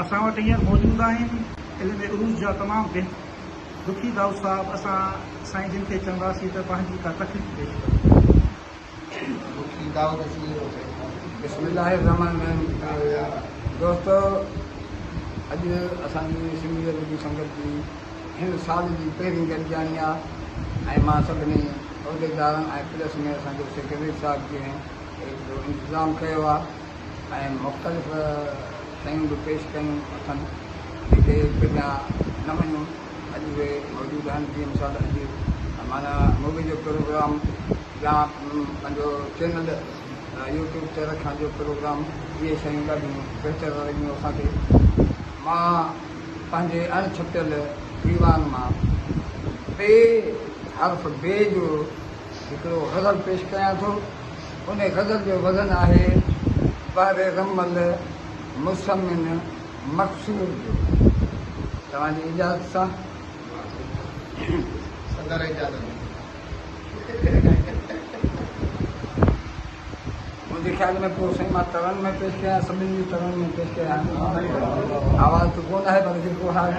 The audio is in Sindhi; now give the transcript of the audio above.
اسان وٽ هينئر موجود آهن علم عروض جا تمام بنهه دکي دائود صاحب اسان سائين جن کي چونداسين ته پنهنجي ڪا تخليق پيش ڪن. دکي دائود اچي ويو اٿئي. بسم الله الرحمٰن الرحيم دوستو اڄ اسان جي سنڌي ادبي سنگت جي هن سال جي پهرين گڏجاڻي آ ۽ مان سڀني عهديدارن ۽ پريس مين اسان جو سيڪريٽري صاحب جنهن هڪ ڀيرو انتظام ڪيو آ ۽ مختلف شيون به پيش ڪيون اٿن جيڪي پهريان نه هيون اڄ اهي موجود آهن جيئن مثال اڄ معنيٰ مووي جو پروگرام يا پنهنجو چينل يوٽيوب تي رکڻ جو پروگرام اهي شيون ڏاڍيون بهتر لڳيون اسانکي مان پنهنجي اڻ ڇپيل ديوان مان ٻئي حرف بي جو هڪڙو غزل پيش ڪيان ٿو. ان غزل جو وزن آهي بحر رمل مثمن مقصور جو. توهان جي اجازت سان. صدر اجازت ڏني. منهنجي خيال ۾ پوء سائين مان ترن ۾ پيش ڪيان سڀني جي ترن ۾ پيش ڪيان آواز ته ڪونه آهي پر جيڪو آهي